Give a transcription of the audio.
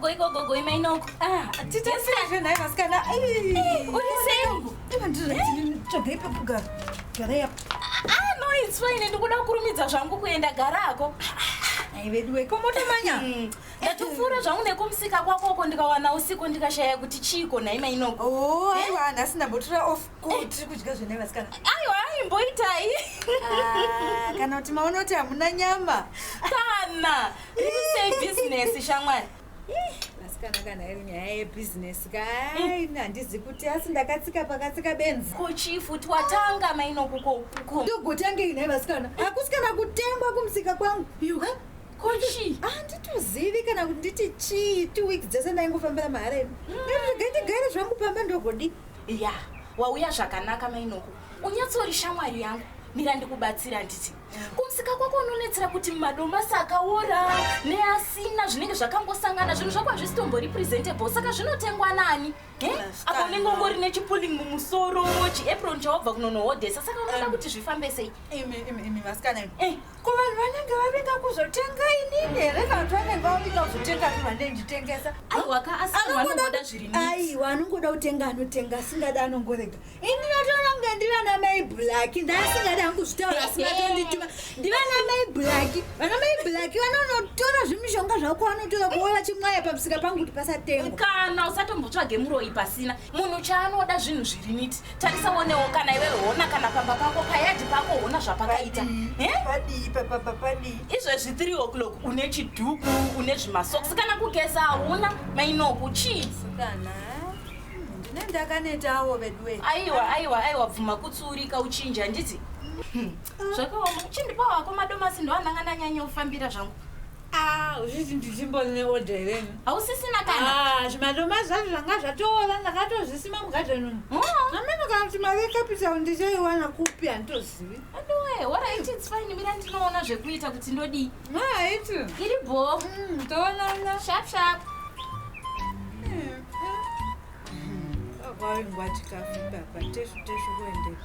goi go go goi mainoko ah titi sanje naye masikana uri sengu iba ndiri tsvagai pekuga gara ya ah no it's fine ndikuda kurumidza zvangu kuenda gara ako ai veduwe komota manya ndatopfuura zvangu nekumusika kwako uko ndikawana usiku ndikashaya kuti chiiko nhaima inoko oh, eh? aiwa nhasi ndambotura off ko eh. tiri kudya zvene vasikana aiwa imboitai ah, kana kuti maona kuti hamuna nyama kana risei bhizinesi shamwari vasikana kana iri nyaya yebhizinesi kai mm. handizi kuti asi ndakatsika pakatsika benzi ko chifu twatanga mainokuko ndogotangei nhai vasikana hakusikana kutengwa kumusika kwangu yuka ko chii handitozivi kana kuti nditi chii two weeks dzese ndaingofambira mahara imi ndega ndigare zvangu pamba ndogodi ya wauya zvakanaka mainoko unyatsori shamwari yangu mira ndikubatsira handiti kumusika kwako unonetsera kuti madomasi akaora neasina zvinenge zvakangosangana zvinhu zvako hazvisi tombori presentable saka zvinotengwa nani Eh? apa unenge ungori nechipuling mumusoro chiapron chawabva kunonohodhesa saka unoda kuti zvifambe sei imi imi imi vasikana imi Eh. Ko vanhu vanenge vavinga kuzotenga inini here kana kuti vanenge vavinga kuzotenga zvinhu vane nditengesa Aiwa ka asi vanhu vanongoda zviri neat. aiwa anongoda kutenga anotenga asingada anongorega ini natoona kunge ndivana mai black ndaasingada hangu zvitaura asi vatondituma ndivana mai black vana mai black vanonotora zvimishonga zvako vanotora kuwe vachimwaya pamusika pangu kuti pasatengwa kana usatombotsvage muroyi pasina munhu chaanoda zvinhu zviri niti tarisa wonewo kana iwe hona kana pamba pako payadhi pako hona zvapakaita padii papapa padii izvezvi 3 o'clock une chidhuku une zvimasoksi kana kugeza hauna mainoku chii kana ndine ndakanetawo veduwe aiwa aiwa aiwa bvuma kutsuurika uchinji handiti zvakaoma chindipa wako madomasi ndoananga ndanyanya kufambira zvangu Ah, uchiti ndichimbo ne order here hausisina kana Ah, zvimadomasi zvacho zvanga zvatoora ndakatozvisima mugadhen umu Mm. ameno kana kuti mari yecapital ndichaiwana kupi handitozivi aduwe horait its fine mira ndinoona zvekuita kuti ndodii haiti iri bho Mm, toonana sharp sharp kwaingwa chikafu papa teshu teshu kuendepi